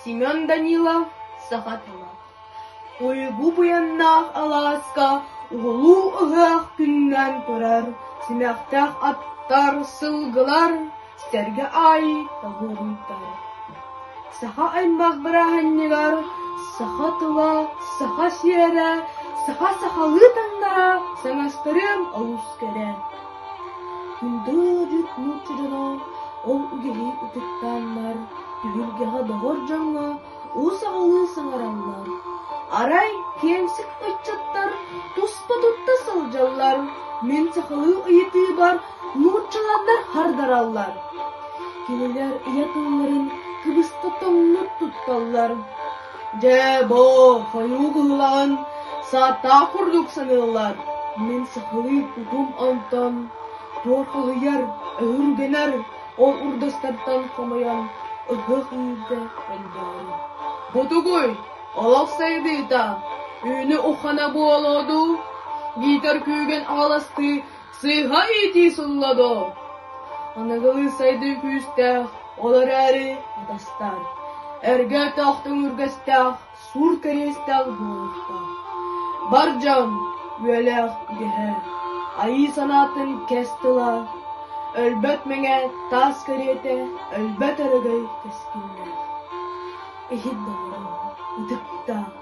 Семен Данилов саха тыла Уйгу буйаннаах алааска Уһулуу ыһыах күнүнэн турар Симэхтэх аттар, сылгылар Сэргэ аайы табылыйтар Саха аймах бырааһынньыгар Саха тыла, саха сиэрэ Саха сахалыы таҥнара Саҥастырыам олус кэрэ Күндү-бүт нуучча дьоно ол үгэһи ытыктааннар, түһүлгэҕэ доҕор дьоҥҥо ус аҕалыы саҥараллар, арай киэмсик ыччаттар туспа тутта сылдьаллар, мин сахалыы ыйытыыбар нууччаланнар хардараллар, кинилэр ыйатыыларын кыбыска тоҥнук тутталлар Дьэ, бо, хойуу кыһылаҕын сааттаах курдук саныыллар, мин сахалыы тутум онтон туоппуһуйар, өһүргэнэр ол урдастартан хомойон ыһыах иирдэ өндөҕүм. Ботугуй, олох сайдыыта, үүнү уххана буолуо дуу, биитэр күүгэн аҕаластыы Сыыһа иитии сылла доо? Аныгылыы сайдыы күүстээх, ол эрээри атастаан, эргээтээх төҥүргэстээх, суур кэриэстээх буолуохтаах. Бар дьон, үөлээх идэһэ, айыы санаатын кэс тыла, өлбөт мэҥэ таас кэриэтэ, өлбөт өрөгөй кэскиллээх. Иһит доҕорум, ытыктаах.